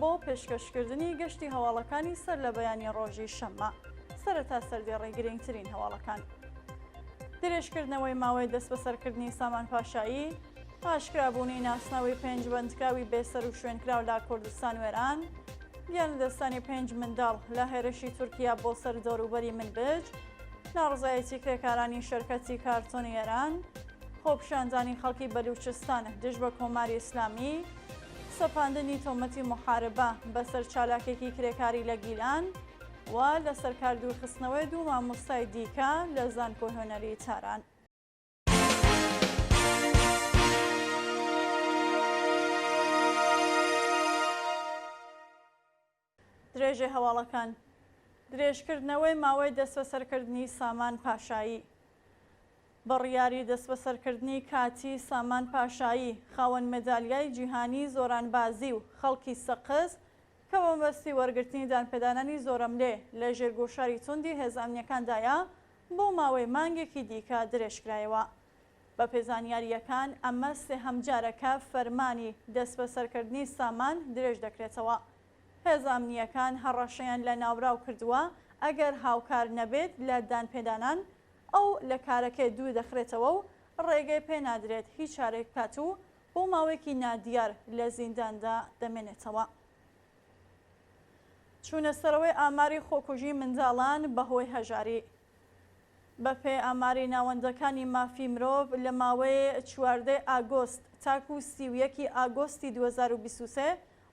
بۆ پێشکەشکردنی گەشتی هەواڵەکانی سەر لە بەیانیی ڕۆژی شەممە. سەرەتا سەردێڕی گرنگترین هەواڵەکان. درێژکردنەوەی ماوەی دەستبەسەرکردنی سامان پاشایی، ئاشکرابوونی ناسناوی پێنج بەندکراوی بێسەروشوێنکراو لە کوردستان و ئێران، گیانلەدەستدانی پێنج منداڵ لە هێرشی تورکیا بۆ سەر دەوروبەری منبج، ناڕەزایەتی کرێکارانی شەرکەتی کارتۆنی ئێران، خۆپیشاندانی خەڵکی بەلووچستان دژ بە کۆماری ئیسلامی، سەپاندنی تۆمەتی موحاربە بەسەر چالاکێکی کرێکاری لە گیلان و لەسەر کار دوورخستنەوەی دوو مامۆستای دیکە لە زانکۆی هونەری تاران. درێژەی هەواڵەکان، درێژکردنەوەی ماوەی دەستبەسەرکردنی سامان پاشایی بڕیاری دەستبەسەرکردنی کاتی سامان پاشایی، خاوەن مەدالیای جیهانی زۆرانبازی و خەڵکی سەقز کە بە مەبەستی وەرگرتنی دانپێدانانی زۆرەملێ لە ژێر گوشاری توندی هێزە ئەمنییەکاندایە، بۆ ماوەی مانگێکی دیکە درێژکرایەوە. بەپێ زانیارییەکان ئەمە سێهەم جارە کە فەرمانی دەستبەسەرکردنی سامان درێژ دەکرێتەوە. هێزە ئەمنییەکان هەڕەشەیان لە ناوبراو کردووە ئەگەر هاوکار نەبێت لە دانپێدانان، ئەو لە کارەکەی دوور دەخرێتەوە و ڕێگەی پێ نادرێت هیچ چارەیەک بکات و بۆ ماوەیەکی نادیار لە زینداندا دەمێنێتەوە. چوونەسەرەوەی ئاماری خۆکوژی منداڵان بەهۆی هەژاری، بەپێی ئاماری ناوەندەکانی مافی مرۆڤ، لە ماوەی چواردە ی ئاگۆست تاکو سی و یەک ی ئاگۆستی دوو هەزار و بیست و سێ،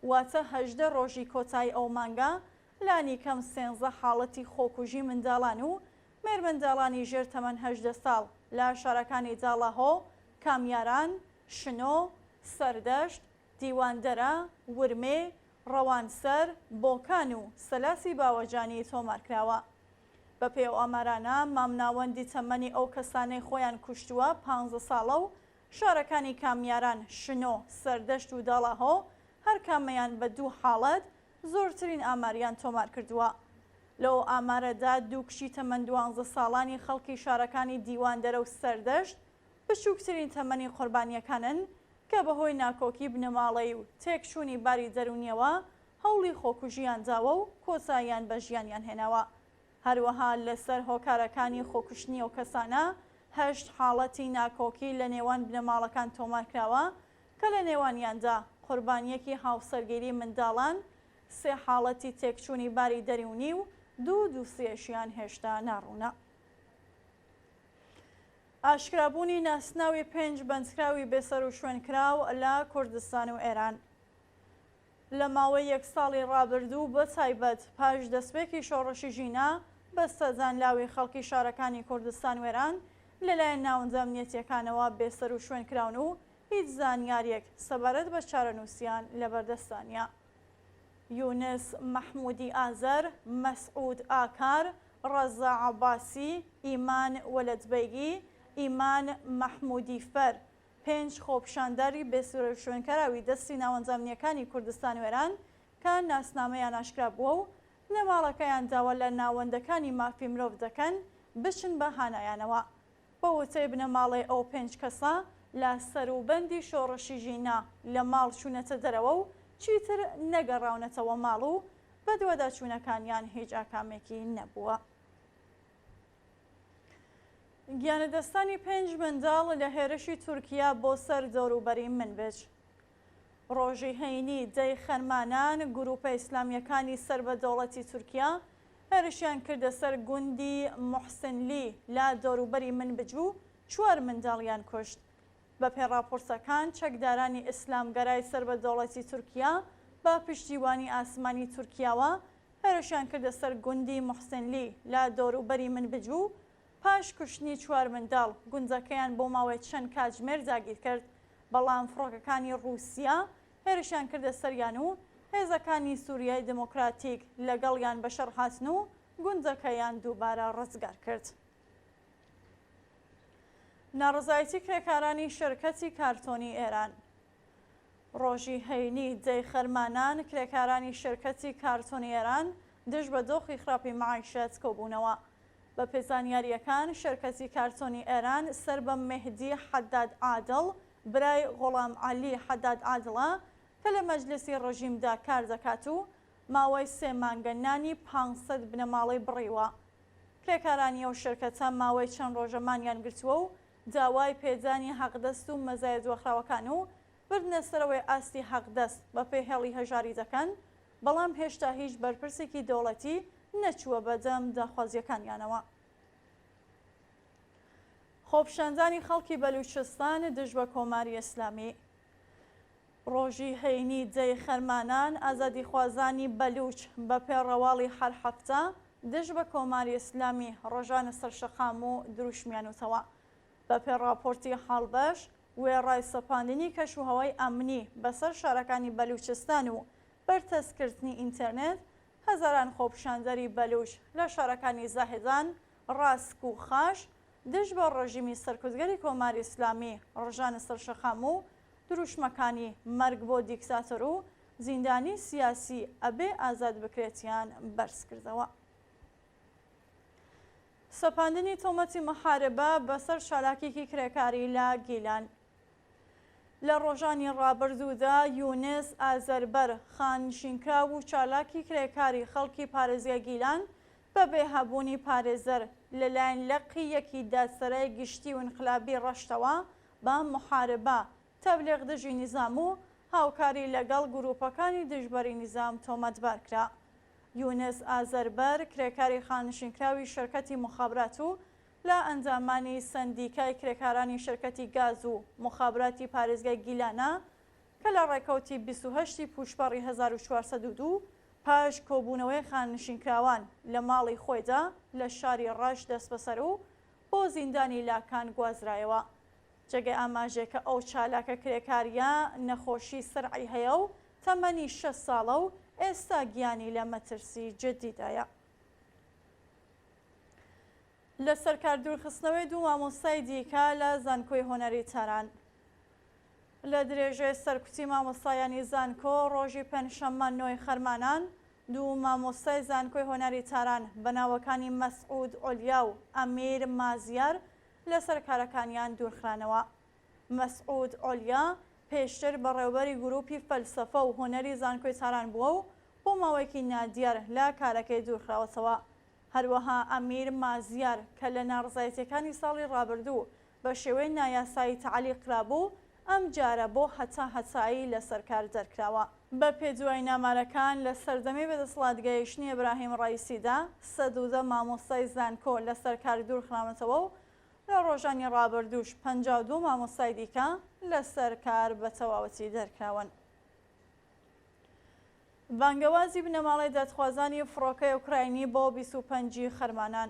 واتە هەژدە ڕۆژی کۆتایی ئەو مانگە، لانیکەم سێنزە حاڵەتی خۆکوژی منداڵان و مێرمنداڵانی ژێر تەمەن هەژدە ساڵ لە شارەکانی داڵاهۆ، کامیاران، شنۆ، سەردەشت، دیواندەرە، ورمێ، ڕەوانسەر، بۆکان و سەلاسی باوەجانی تۆمارکراوە. بەپێی ئەو ئامارانە، مامناوەندی تەمەنی ئەو کەسانەی خۆیان کوشتووە پانزە ساڵە و شارەکانی کامیاران، شنۆ، سەردەشت و داڵاهۆ هەرکامەیان بە دوو حاڵەت زۆرترین ئاماریان تۆمار کردووە. لەو ئامارەدا دوو کچی تەمەن دوانزە ساڵانی خەڵکی شارەکانی دیواندەرە و سەردەشت بچووکترین تەمەنی قۆربانییەکانن کە بەهۆی ناکۆکی بنەماڵەیی و تێکچوونی باری دەروونییەوە هەوڵی خۆکوژییان داوە و کۆتاییان بە ژیانیان هێناوە. هەروەها لەسەر هۆکارەکانی خۆکوشتنی ئەو کەسانە، هەشت حاڵەتی ناکۆکی لە نێوان بنەماڵەکان تۆمار کراوە کە لە نێوانیاندا قوربانییەکی هاوسەرگیری منداڵان، سێ حاڵەتی تێکچوونی باری دەروونی و دوو دووسیەشیان هێشتا ناڕوونە. ئاشکرابوونی ناسناوی پێنج بەندکراوی بێسەروشوێنکراو لە کوردستان و ئێران. لە ماوەی یەک ساڵی ڕابردوو و بە تایبەت پاش دەستپێکی شۆڕشی ژینا، بەستە دانلاوی خەڵکی شارەکانی کوردستان وێران لەلایەن ناوەندە ئەمنیەتییەکانەوە بێسەروشوێن کراون و هیچ زانیارییەک سەبارەت بە چارەنووسیان لەبەردەستدا نییە. یونس مەحموودی ئازەر، مەسعوود ئاکار، ڕەزا عەباسی، ئیمان وەلەدبەیگی، ئیمان مەحموودی فەر، پێنج خۆپیشاندەری بێ سورە و شوێنکەراوی دەستی ناوەندە ئەمنییەکانی کوردستان وێران کە ناسنامەیان ئاشکرا بووە و بنەماڵەکەیان داوا لە ناوەندەکانی مافی مرۆڤ دەکەن بچن بە هانایانەوە. بە وتەی بنەماڵەی ئەو پێنج کەسە، لە سەروبەندی شۆڕشی ژینا لە ماڵ چوونەتە دەرەوە و چیتر نەگەڕاونەتەوە ماڵ و بەدواداچوونەکانیان هیچ ئاکامێکی نەبووە. گیانلەدەستدانی پێنج منداڵ لە هێرشی تورکیا بۆ سەر دەوروبەری منبج. ڕۆژی هەینی دە ی خەرمانان گرووپە ئیسلامییەکانی سەر بە دەوڵەتی تورکیا هێرشیان کردە سەر گوندی موحسنلی لە دەوروبەری منبج و چوار منداڵیان کوشت. بەپێی ڕاپۆرتەکان، چەکدارانی ئیسلامگەرای سەر بە دەوڵەتی تورکیا بە پشتیوانی ئاسمانی تورکیاوە هێرشیان کردە سەر گوندی موحسنلی لە دەوروبەری منبج و پاش کوشتنی چوار منداڵ، گوندەکەیان بۆ ماوەی چەند کاتژمێر داگیر کرد، بەڵام فڕۆکەکانی ڕووسیا هێرشیان کردە سەریان و هێزەکانی سووریای دیموکراتیک لەگەڵیان بەشەڕ هاتن و گوندەکەیان دووبارە ڕزگار کرد. ناڕەزایەتی کرێکارانی شێرکەتی کارتۆنی ئێران. ڕۆژی هەینی دەی خەرمانان کرێکارانی شێرکەتی کارتۆنی ئێران دژ بە دۆخی خراپی مەعیشەت کۆبوونەوە. بە پێ زانیارییەکان شێرکەتی کارتۆنی ئێران سەر بە مێهدی حەداد عادڵ برای غوڵام عەلی حەداد عادڵە کە لە مەجلیسی ڕژیمدا کار دەکات و ماوەی سێ مانگە نانی پانز سەد بنەماڵەی بڕیوە. کرێکارانی ئەو شێرکەتە ماوەی چەند ڕۆژە مانیان گرتووە و داوای پێدانی حەقدەست و مەزایە دواخراوەکان و بردنە سەرەوەی ئاستی حەقدەست بەپێ هێڵی هەژاری دەکەن، بەڵام هێشتا هیچ بەرپرسێکی دەوڵەتی نەچووە بەدەم داخوازییەکانیانەوە. خۆپیشاندانی خەڵکی بەلووچستان دژ بە کۆماری ئیسلامی. ڕۆژی هەینی دەی خەرمانان ئازادیخوازانی بەلووچ بە پێ ڕەواڵی هەر هەفتە دژ بە کۆماری ئیسلامی ڕژانە سەر شەقام و دروشمیانوتەوە. بە پێ ڕاپۆرتی هاڵبەش وێڕای سەپاندنی کەشوهەوای ئەمنی بە سەر شارەکانی بەلووچستان و بەرتەسک کردنی ئینتێرنێت، هەزاران خۆپیشاندەری بەلووچ لە شارەکانی زاهێدان، ڕاسک و خاش دژ بە ڕژیمی سەرکوتگەری کۆماری ئیسلامی ڕژانە سەر شەقام و دروشمەکانی مەرگ بۆ دیکتاتۆر و زیندانی سیاسی ئەبێ ئازاد بکرێتیان بەرز کردەوە. سەپاندنی تۆمەتی محاربە بەسەر چالاکێکی کرێکاری لە گیلان. لە ڕۆژانی ڕابردوودا یونس ئازەربەر، خاننشینکراو و چالاکی کرێکاری خەڵکی پارێزگای گیلان بە بێ هەبوونی پارێزەر لەلایەن لقی یەکی دادسەرای گشتی و ئینقلابی ڕەشتەوە بە موحاربە، تەبلیغ دژی نیزام و هاوکاری لەگەڵ گرووپەکانی دژبەری نیزام تۆمەتبار کرا. یونس ئازەربەر، کرێکاری خانشینکراوی شرکەتی مخابرات و لە ئەندامانی سەندیکای کرێکارانی شرکەتی گاز و مخابراتی پارێزگای گیلانە کە لە ڕێکەوتی بیست و هەشت ی پووشپەڕی هەزار و چوار سەد و دوو پاش کۆبوونەوەی خانشینکراوان لە ماڵی خۆیدا لە شاری ڕەش دەستبەسەر و بۆ زیندانی لاکان گوازرایەوە. جێگەی ئاماژەیەکە ئەو چالاکە کرێکارییە نەخۆشی سرعی هەیە و تەمەنی شەست ساڵە و ئێستا گیانی لە مەترسی جددیدایە. لەسەر کار دوورخستنەوەی دوو مامۆستای دیکە لە زانکۆی هونەری تاران. لە درێژەی سەرکوتی مامۆستایانی زانکۆ، ڕۆژی پێنجشەممە نۆی خەرمانان، دوو مامۆستای زانکۆی هۆنەری تاران بە ناوەکانی مەسعود عولیا و ئەمیر مازیار لەسەر کارەکانیان دوورخرانەوە. مەسعود عولیا پێشتر بەڕێوەبەری گرووپی فەلسەفە و هۆنەری زانکۆی تاران بووە و بۆ ماوەیەکی نادیار لە کارەکەی دوورخراوەتەوە. هەروەها ئەمیر مازیار کە لە ناڕزایەتییەکانی ساڵی ڕابردوو بە شێوەی نایاسایی تەعلیقکرابوو، ئەمجارە بۆ هەتا هەتایی لەسەر کار دەرکراوە. بە پێی دوای نامارەکان، لە سەردەمی بەدەسڵاتگەیشتنی ئیبراهیم ڕەئیسیدا، سەد و دە مامۆستای زانکۆ لەسەر کار دوورخراونەتەوە و لە ڕۆژانی ڕابردووش پەنجا و دوو مامۆستای دیکە لەسەر کار بە تەواوەتی دەرکراون. بانگەوازی بنەماڵەی دادخوازانی فڕۆکەی ئۆکراینی بۆ بیست و پەنج ی خەرمانان.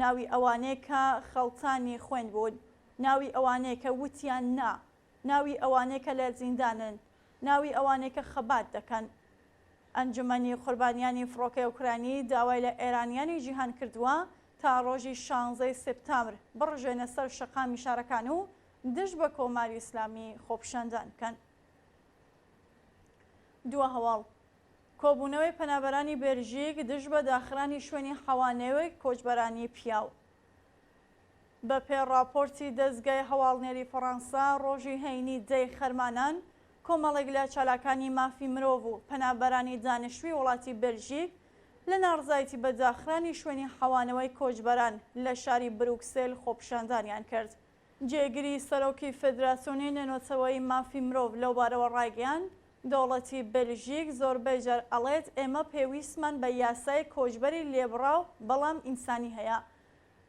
ناوی ئەوانەی کە خەڵتانی خوێن بوون، ناوی ئەوانەی کە وتیان نا، ناوی ئەوانەی کە لە زیندانن، ناوی ئەوانەی کە خەبات دەکەن. ئەنجومەنی قوربانیانی فڕۆکەی ئۆکرانی داوای لە ئێرانییانی جیهان کردووە تا ڕۆژی شانزەی سێپتامبر بڕژێنە سەر شەقامی شارەکان و دژ بە کۆماری ئیسلامی خۆپیشاندان بکەن. دوا هەواڵ، کۆبوونەوەی پەنابەرانی بێلژیک دژ بە داخرانی شوێنی حەوانەوەی کۆچبەرانی پیاو. بە پێ ڕاپۆرتی دەزگای هەواڵنێری فەڕەنسا، ڕۆژی هەینی دە ی خەرمانان، کۆمەڵێک لە چالاکانی مافی مرۆڤ و پەنابەرانی دانیشتووی وڵاتی بێلژیک لە ناڕزایتی بە داخرانی شوێنی حەوانەوەی کۆچبەران لە شاری بروکسێل خۆپیشاندانیان کرد. جێگری سەرۆکی فێدراسیۆنی نێنۆتەوەیی مافی مرۆڤ لەو بارەوە ڕایگەیاند، دەوڵەتی بێلژیک زۆربەی جار ئەڵێت ئێمە پێویستمان بە یاسای کۆچبەری لێبڕاو بەڵام ئینسانی هەیە.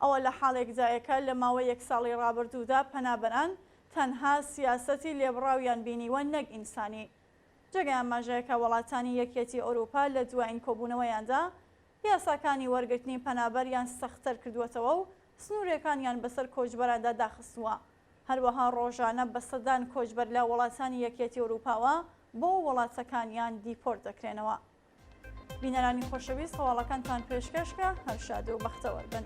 ئەوە لە حاڵێکدایە کە لە ماوەی یەک ساڵی ڕابردوودا پەنابەران تەنها سیاسەتی لێبڕاویان بینیوە نەک ئینسانی. جێگای ئاماژەیە کە وڵاتانی یەکیەتی ئەوروپا لە دوایین کۆبوونەوەیاندا یاساکانی وەرگرتنی پەنابەریان سەختتر کردووەتەوە و سنوورەکانیان بەسەر کۆچبەراندا داخستووە، هەروەها ڕۆژانە بە سەدان کۆچبەر لە وڵاتانی یەکیەتی ئەوروپاوە بۆ وڵاتەکانیان دیپۆرت دەکرێنەوە. بینەرانی خۆشەویست هەواڵەکانتان پێشکەشکرا، هەر شاد و بەختەوەربن.